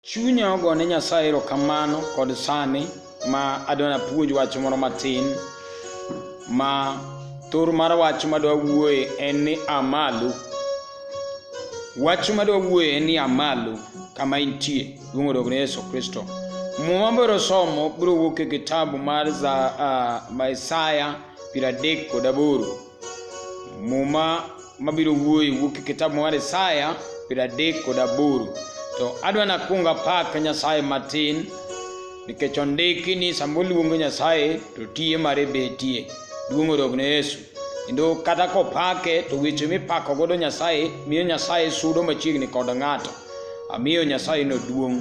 Chunya ogo ne Nyasaye erokamano kod sani ma adwa napuonj wach moro matin ma thor mar wach madwa wuoye en ni amalo. Wach madwa wuoye en ni amalo kama intie duong' odog ne Yesu Kristo. Muma biro somo biro wuok e kitabu mar za, uh, Isaya piero adek kod aboro Muma mabiro wuoye wuok e kitabu mar Isaya piero adek kod aboro. To adwa nakwong apak Nyasaye matin nikech ondiki ni sama oluongo Nyasaye to tiye mare betie. Duong' odog ne Yesu. Kendo kata kopake to weche mipako godo Nyasaye miyo Nyasaye sudo machiegni kod ng'ato. Amiyo Nyasaye no duong'.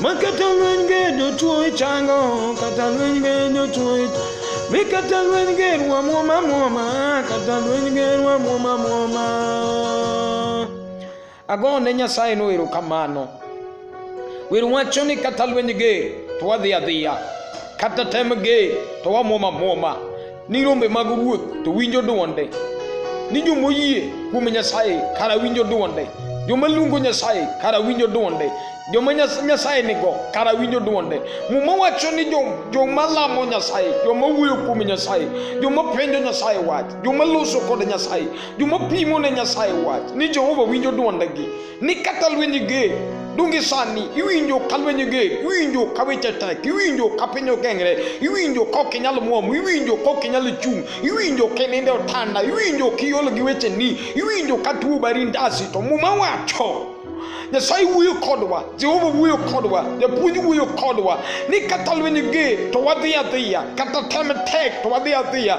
Makata lweny ge jotuo ichango, kata lweny ge jotuo ichango. Mikata lweny ge rwa mwoma mwoma, kata lweny ge rwa mwoma mwoma. Ago ne Nyasaye no erokamano. Wer wacho ni kata lweny ge to wadhi adhiya, kata tem ge to wamwoma mwoma. Ni rombe mag ruoth to winjo dwonde, ni joma oyie kuom Nyasaye kara winjo dwonde, joma luongo Nyasaye kara winjo dwonde, joma Nyas- Nyasaye nigo kara winjo dwonde. Muma wacho ni jo- joma lamo Nyasaye, joma wuoyo kuom Nyasaye, joma penjo Nyasaye wach, joma loso kod Nyasaye, joma pimo ne Nyasaye wach, ni Jehova winjo dwondegi. ni kaka lweny ger donge sani iwinjo ka lweny ger iwinjo ka weche tek iwinjo ka piny ogengre iwinjo ka ok inyal muom iwinjo ka ok inyal chung' iwinjo ka ininde otanda iwinjo ka iol gi weche ni iwinjo ka tuo bari ndasi to muma wacho nyasaye wuoyo kodwa jehova wuoyo kodwa japuonj wuoyo kodwa ni kata lweny ger to wadhi adhiya kata tem tek to wadhi adhiya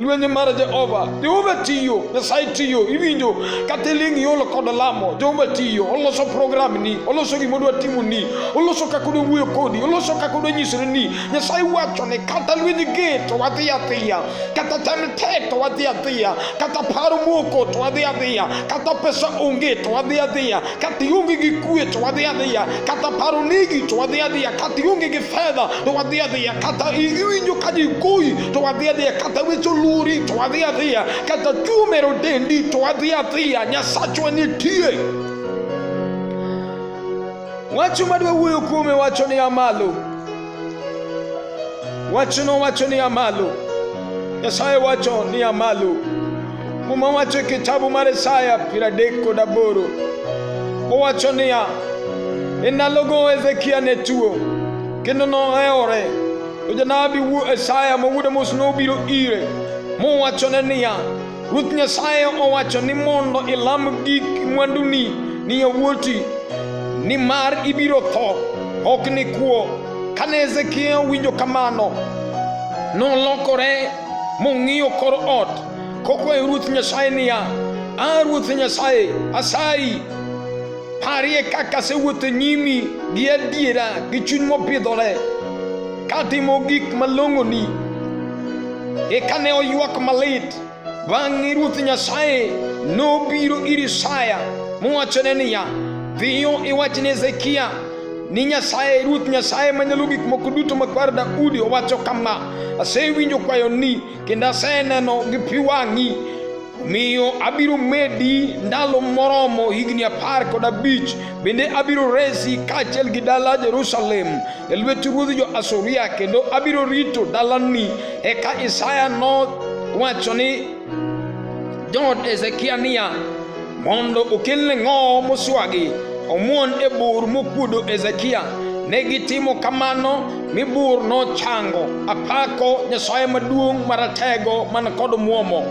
lwenje mar Jehova. Jehova tiyo, Nyasaye tiyo, iwinjo kata iling' iolo kod lamo. Jehova tiyo, oloso program ni, oloso gima odwa timo ni, oloso kaka odwa wuoyo kodi, oloso kaka odwa nyisore ni. Nyasaye wacho ni kata lwenje ge to wadhi adhiya, kata tem te to wadhi adhiya, kata paro moko to wadhi adhiya, kata pesa onge to wadhi adhiya, kata ionge gi kue to wadhi adhiya, kata paro negi to wadhi adhiya, kata ionge gi fedha to wadhi adhiya, kata iwinjo ka ji goyi to adhi adhiya kata weche oluri to adhi adhiya kata tuo mero dendi to adhi adhiya nyasachwa nitie wacho madwa wuoyo kuome wacho ni amalo wachono wacho ni amalo nyasaye wacho ni amalo muma wacho e kitabu mar isaya piero adek kod aboro owacho niya e ndalogo hezekia ne tuo kendo nohewore To janabi wu Isaya mawuodo mos nobiro ire, mowachone niya, Ruoth Nyasaye owacho ni mondo ilam gik mwanduni ni yawuoti, nimar ibiro tho, ok ni kuo. Kane Hezekia owinjo kamano, nolokore mong'iyo kor ot, kokwayo Ruoth Nyasaye niya, A Ruoth Nyasaye, asayi, Parie kaka asewuotho e nyimi gi adiera gi chuny mopidhore katimo gik malong'oni. Eka ne oywak malit. Bang'e Ruoth Nyasaye nobiro ir Isaya mowachone niya, Dhiyo iwach ne Hezekia ni Nyasaye, Ruoth Nyasaye Manyalo Gik Moko Duto makwar Daudi owacho kama, asewinjo kwayoni kendo aseneno gi pi wang'i Omiyo abiro medi ndalo moromo higni apar kod abich, bende abiro resi kaachiel gi dala Jerusalem e lwet ruodh jo-Asuria, kendo abiro rito dalani. Eka Isaya nowacho ni jood Hezekia niya, mondo okelne ng'owo moswagi, omuon e bur mokuodo Hezekia. Ne gitimo kamano. Mibur nochango apako Nyasaye maduong' maratego man kod muomo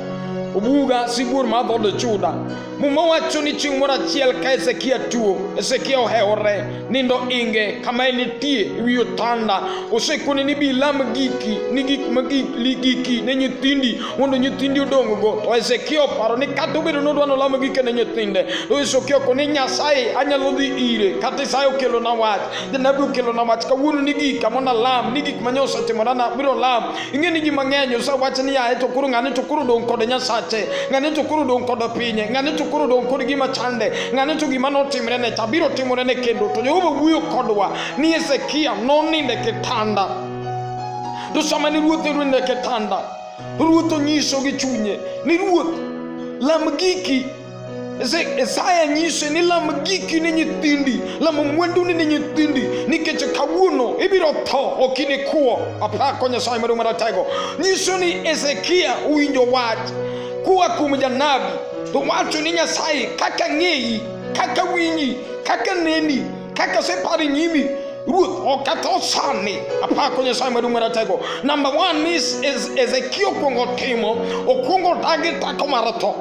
obuga sibuor mar dhood Juda. Muma wacho ni chieng' moro achiel ka Hezekia tuo, Hezekia ohewore nindo inge kama enitie ewi otanda. Osekone ni bilam giki ni gik ma giki ne nyithindi mondo nyithindi odong'go. To Hezekia oparo ni kata obedo nodwa nolamo gike ne nyithinde, to Hezekia okone Nyasaye anyalo dhi ire kata Isaya okelona wach. Janabi okelona wach kawuono ni gik kama nalam ni gik manye osetimora na biro lam ing'e ni ji mang'eny osewach ni yaye to koro ng'ani to koro dong' kod nyasache ng'ani to koro dong' kod pinye ng'ani to koro dong' kod gima chande ng'ani to gima notimre ne cha biro timore ne kendo to jehova wuoyo kodwa ni hezekia noninde kitanda to sama ni ruoth ninde kitanda ruoth onyiso gi chunye ni ruoth lam giki Isaya nyise ni lam giki ne nyithindi, lam mwanduni ne nyithindi, nikech kawuono ibiro tho, ok inikwo. Apako Nyasaye Maduong' Maratego. Nyiso ni Hezekia winjo wach kuwa kuom janabi, to wacho ni Nyasaye kaka ng'eyi, kaka winji, kaka neni, kaka separi nyimi Ruth okatho sani apako Nyasaye maduong' maratego. Number one is, is Ezekiel okuongo timo, okuongo dagi tako mar tho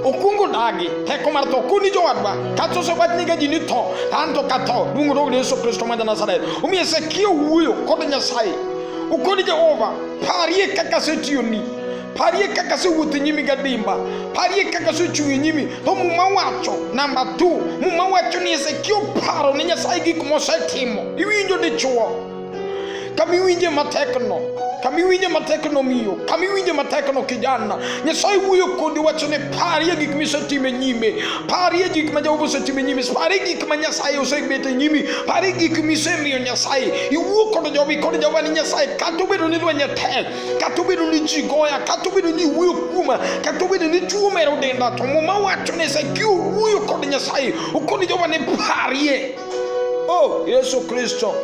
okungo daagi heko mar tho kuni jowadwa kata osewach ni ga ji ni tho to an to ka tho luongo rogo ni yesu kristo ma janasaret omiyo hezekia wuoyo kod nyasaye ukoni jehova parie kaka asetiyoni parie kaka asewuotho e nyimi gadimba parie kaka asechung' e nyimi to muma wacho namba tu muma wacho ni hezekia oparo ni nyasaye gik mosetimo iwinjo dichuo kamiwinje matekno kamiwinje matekno miyo kamiwinje matekno kijana nyasaye wuoyo kodi wachone parie gik misetime nyime parie gik ma jehova osetime nyime parie gik ma nyasaye osebete nyimi parie gik misemiyo nyasaye iwuo kod jobi kod jehova ni nyasaye kata obedo ni lweny tek kata obedo ni ji goya kata obedo ni iwuoyo kuoma kata obedo ni tuo mero denda to muma wacho ni sakiyo wuoyo kod nyasaye okoni jehova ni parie Oh, Yesu Kristo.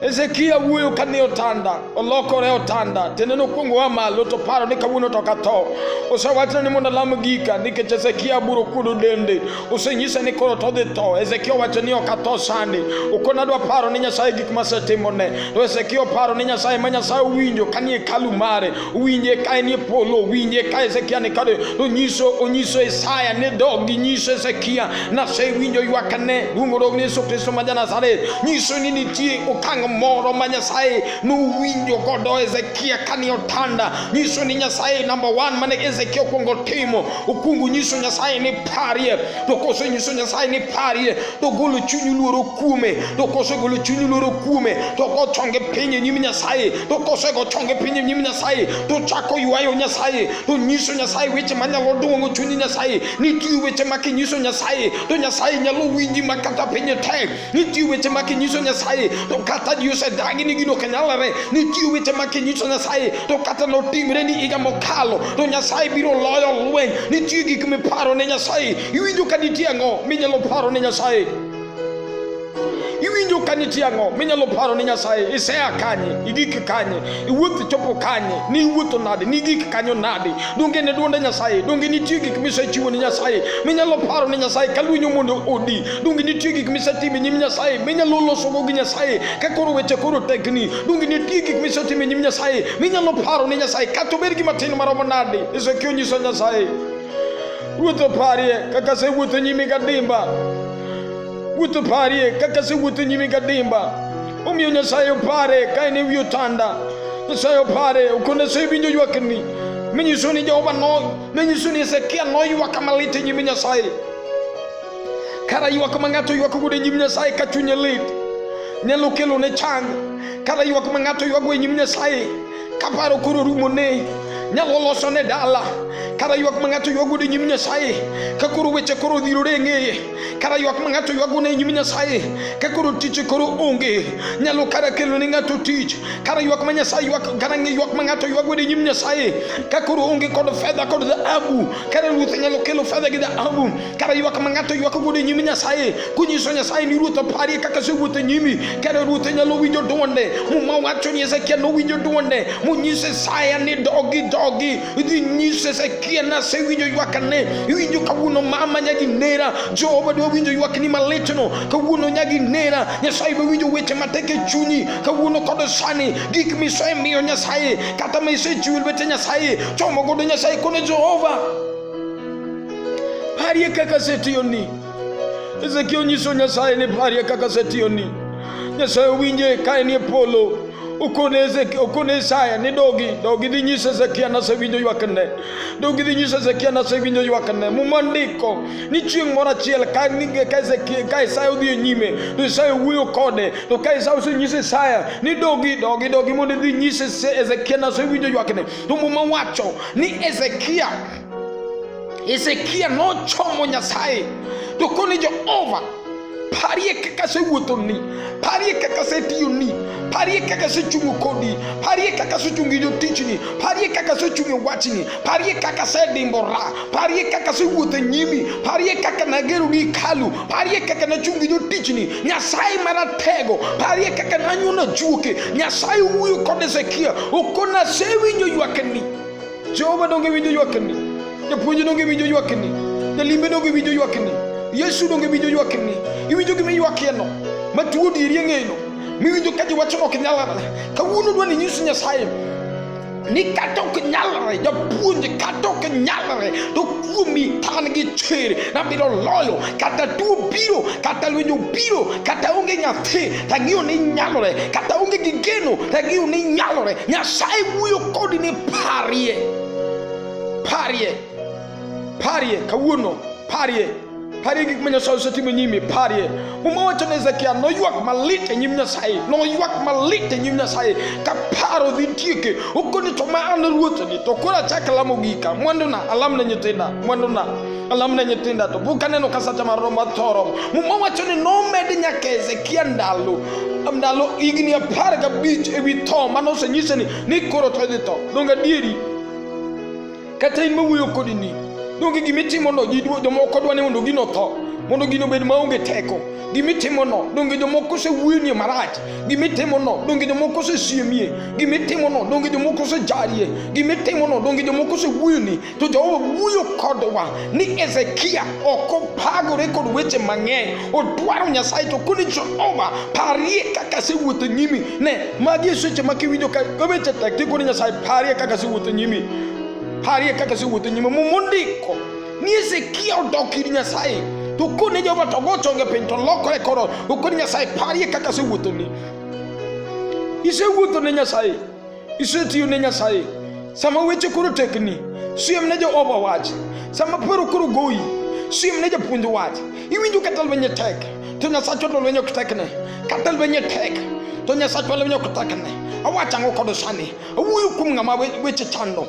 Ezekia wuoyo ka ni otanda olokore otanda tiende nokwongo wa malo to paro ni kawuono to katho osewachna ni mondo alam gika nikech Ezekia buro kudo dende osenyisa ni koro to dhi tho Ezekia owacho ni ok atho sani okona adwa paro ni Nyasaye gik masetimone to Ezekia oparo ni Nyasaye ma Nyasaye owinjo kanie kalu mare winje ka enie polo winje ka hezekia ni kade onyiso onyiso isaya ni dog gi nyiso hezekia nase winjo ywakne luongo dog ni yesu kristo ma janasaret nyiso ni nitie okang' moro ma nyasaye nowinjo godo hezekia kani otanda nyiso ni nyasaye namba one mane hezekia okwongo timo okwongo nyiso nyasaye ni parie to kose nyiso nyasaye ni parie to golo chunyu luoro kuome to kose golo chunyu luoro kuome to kochonge piny e nyim nyasaye to kosego chonge pinyi nyim nyasaye to chako ywayo nyasaye to nyiso nyasaye weche manyalo duong'o chunyi nyasaye nitie weche ma kinyiso nyasaye to nyasaye nyalo winji ma kata pinye tek nitie weche ma kinyiso nyasaye to kata ji osedagi ni gino kanyalore nitie weche ma kinyiso nyasaye to kata notimre ni higa mokalo to nyasaye biro loyo lweny nitie gik miparo ne nyasaye iwinjo ka nitie ang'o minyalo paro ne nyasaye iwinjo ka nitie ang'o minyalo paro ni nyasaye isea kanye igik kanye iwuoth chopo kanye ni iwuotho nade ni igik kanyo nade donge ne duonde nyasaye donge nitie gik misechiwo ni nyasaye minyalo paro ni nyasaye ka lwinyo mondo odi donge nitie gik misetimo e nyim nyasaye minyalo losogo gi nyasaye ka koro weche koro tekni donge nitie gik misetimo e nyim nyasaye minyalo paro ni nyasaye kata obed gi matin maromo nade ezekiel nyiso nyasaye Wuoth oparie kaka asewuotho nyimi gadimba. Wuoth oparie kaka asewuotho nyimi gadimba. Omiyo Nyasaye opare ka en e wi otanda. Nyasaye opare okone asewinjo ywakni. Minyiso ni Jehova no, minyiso ni Hezekia noywak malit e nyim Nyasaye. Kara ywak ma ng'ato ywak godo e nyim Nyasaye ka chunye lit nyalo kelo ne chang. Kara ywak ma ng'ato ywago e nyim Nyasaye kaparo koro rumo ne nyalo loso ne dala kara ywak ma ng'ato ywago ne nyim nyasaye ka koro weche koro dhirore e ng'eye kara ywak ma ng'ato ywago ne nyim nyasaye ka koro tich koro onge nyalo kara kelo ne ng'ato tich kara ywak ma nyasaye ywak kara ywak ma ng'ato ywago ne nyim nyasaye ka koro onge kod fedha kod dhahabu kara ruoth nyalo kelo fedha gi dhahabu kara yi waka mangata yi waka gode nyimi nyasaye kunyi so nyasaye ni ruta pari kaka se ruta nyimi kara ruta nyalo wijo donde mu ma wacho ni ezekia no wijo donde mu nyi se saya ni dogi dogi di nyi se ezekia na se wijo yi waka ne wijo kawuno mama nyagi nera jehova do wijo yi waka ni maletno kawuno nyagi nera nyasaye be wijo weche mateke chunyi kawuno kodo sani gik miso e miyo nyasaye kata ma isechiwil weche nyasaye chomo godo nyasaye kone jehova Parie kaka setiyoni. Ezekiel onyiso Nyasaye ni parie kaka setiyoni. Nyasaye owinje ka en e polo. Okone Isaya ni dogi, dogi dhi nyiso Ezekia nasewinjo ywakne. Dogi dhi nyiso Ezekia nasewinjo ywakne. Muma ndiko ni chieng' moro achiel ka ka Isaya odhi e nyime, to Isaya wuoyo kode. To ka Isaya osenyiso Isaya ni dogi, dogi, dogi mondo idhi nyise Ezekia nasewinjo ywakne. To muma wacho ni Ezekia Hezekia nochomo Nyasaye to kone Jehova parie kaka asewuothoni parie kaka asetiyoni parie kaka asechungo kodi parie kaka asechungo jotichni parie kaka asechungo wachni parie kaka asedimbora parie kaka asewuotho e nyimi parie kaka nagero gi hekalu parie kaka nachungo jotichni nyasaye maratego parie kaka nanyono juoke nyasaye wuoyo kod hezekia okona asewinjo ywakni Jehova donge winjo ywakni? Japuonj donge winjo ywakni? Jalimbe donge winjo ywakni? Yesu donge winjo ywakni? Iwinjo gima iywakieno? Ma tuo diri e ng'eyno? Miwinjo ka ji wacho ok nyalre? Kawuono dwa ni nyis Nyasaye ni kata ok nyalre japuonj kata ok nyalre to kuomi tan gi chir nabiro loyo kata tuo biro kata lwenjo biro kata onge nyathi tagiyo ni nyalore kata onge gi geno tagiyo ni nyalore nyasaye wuoyo kodi ni parie parie parie kawuono parie parie gik ma nyasaye osetimo e nyimi parie muma wacho ne hezekia noywak malit e nyim nyasaye noywak malit e nyim nyasaye ka paro dhi tieke okoni to ma an ruothni to koro achak lamo gika mwanduna alamne nyithinda mwanduna Kalam ne nyithindo to bu kaneno ka sacha mar romo thoro muma wacho ni nomed nyaka Hezekia ndalo ndalo higni apar gabich ewi tho mane osenyise ni ni koro to idhi tho donge adieri kata in mawuoyo kodi ni donge gima itimono ji dwa- jomoko dwa ni mondo gino tho mondo gino bed maonge teko gima itimono donge jomoko osewuonie marach gima itimono donge jomoko osesiemie gima itimono donge jomoko osejarie gima itimono donge jomoko osewuoni to Jehova wuoyo kodwa ni Hezekia ok opagore kod weche mang'eny, odwaro Nyasaye to koni Jehova parie kaka asewuotho nyimi. Ne, magi e seche ma kiwinjo ka weche tek ti koni Nyasaye parie kaka asewuotho nyimi, parie kaka asewuotho nyimi. Muma ondiko ni Hezekia odok ir Nyasaye to koni Jehova to go chonge piny to lokore koro okoni Nyasaye parie kaka asewuothoni, isewuotho ne Nyasaye Isetiyo ne Nyasaye sama weche koro tekni, siem ne Jehova wach. Sama paro koro goyi, siem ne japuonj wach. Iwinjo kata lwenye tek, to Nyasachwa to lwenye ok tekne. Kata lwenye tek, to Nyasachwa lwenye ok tekne. Awacho ang'o kod sani? Awuoyo kuom ng'ama weche chando.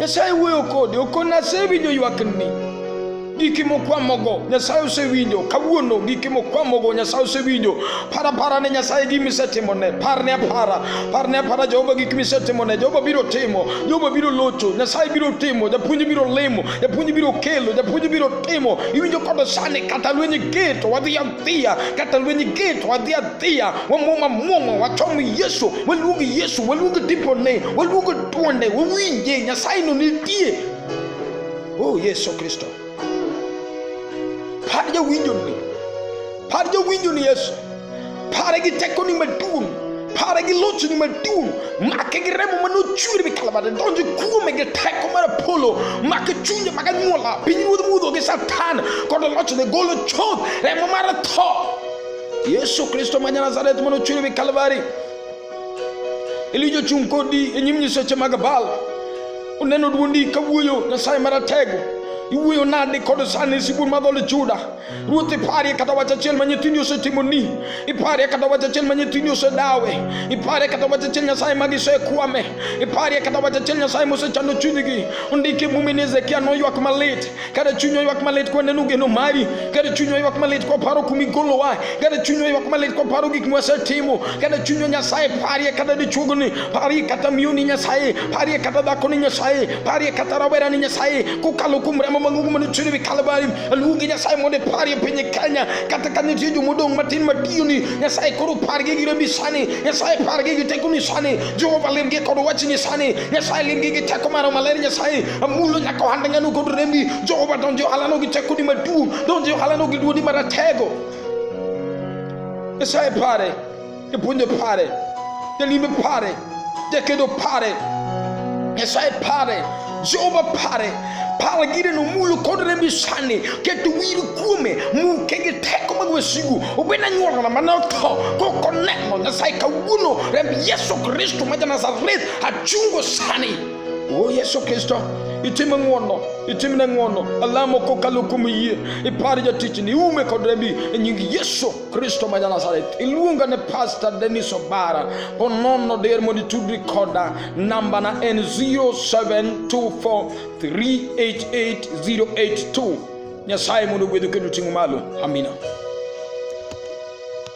nyasaye wuoyo kode okon asewinjo ywakni giki mokwamogo nyasaye osewinjo kawuono giki mokwamogo nyasaye osewinjo para para ne nyasaye gima isetimone parne apara parne apara jehova gik misetimone jehova biro timo jehova biro locho nyasaye biro timo japuonj biro limo japuonj biro kelo japuonj biro timo iwinjo kodo sani kata lwenye geto wadhi adhiya kata lwenye geto wadhi adhiya wamwoma mwoma wachom yesu waluongi yesu waluongi tipone waluongi Tuonde wawinje Nyasaye no nitie. Oh Yesu Kristo. Par jawinjo ni. Par jawinjo ni Yesu. Pare gi tekoni maduong'. Pare gi lochni maduong'. Make gi remo ma nochwer bi kalabare. Donjo kuome gi teko mar Apollo. Make chunje mag anyuola. Piny ruodh mudho gi Satan. Kod lochne golo chuth. Remo mar tho. Yesu Kristo ma Nazareth ma nochwer bi Kalvari. Elija ochung' kodi e nyim nyiseche mag Baal. Oneno dwondi ka wuoyo Nyasaye Maratego. Iwuoyo nade kod sani sibun ma dhood Juda? Ruoth iparie kata wach achiel ma nyithindi osetimoni. Iparie kata wach achiel ma nyithindi osedawe. Iparie kata wach achiel Nyasaye ma gisekwame. Iparie kata wach achiel Nyasaye mosechando chunygi. Ondike mumi ni Hezekia noywak malit. Kada chunywa ywak malit kwa neno geno mari, kada chunywa ywak malit kwa paro kumigolowa, kada chunywa ywak malit kwa paro gik mwasetimo, kada chunywa Nyasaye parie kata dichuogo ni, parie kata miyo ni Nyasaye, parie kata dhako ni Nyasaye, parie kata rawera ni Nyasaye, kokalo kuom remo mang'ongo mane chwere wi Kalvari, aluongi Nyasaye mondo parie piny Kenya, kata ka nitie joma odong' matin matiyo ni Nyasaye koro pargi gi rembi sani, Nyasaye pargi gi tekoni sani, Jehova limgi kod wachni sani, Nyasaye limgi gi teko maro maler Nyasaye Mungu nakohanda ngano kodremi Jehova donjo halano gi chako di madu donjo halano gi duodi maratego Esaye pare ipunjo pare Delime pare Dekedo pare Esaye pare Jehova pare pala gire no mulo kodre mi sani keto wiru kuome mu kege teko mag wasigu obena nyuola mana to ko koneno nyasaye kawuono remb yesu kristo ma ja nazareth achungo sani o yesu kristo itim ng'wono itimne ng'wono alamo kokalo kuom yie ipar jatichni iume kod rembi e nying yesu kristo ma janazareth iluonga ne pastor denis obara ponono der mondo itudri koda nambana en 0724388082 nyasaye mondo ogwedhu kendo ting'u malo amina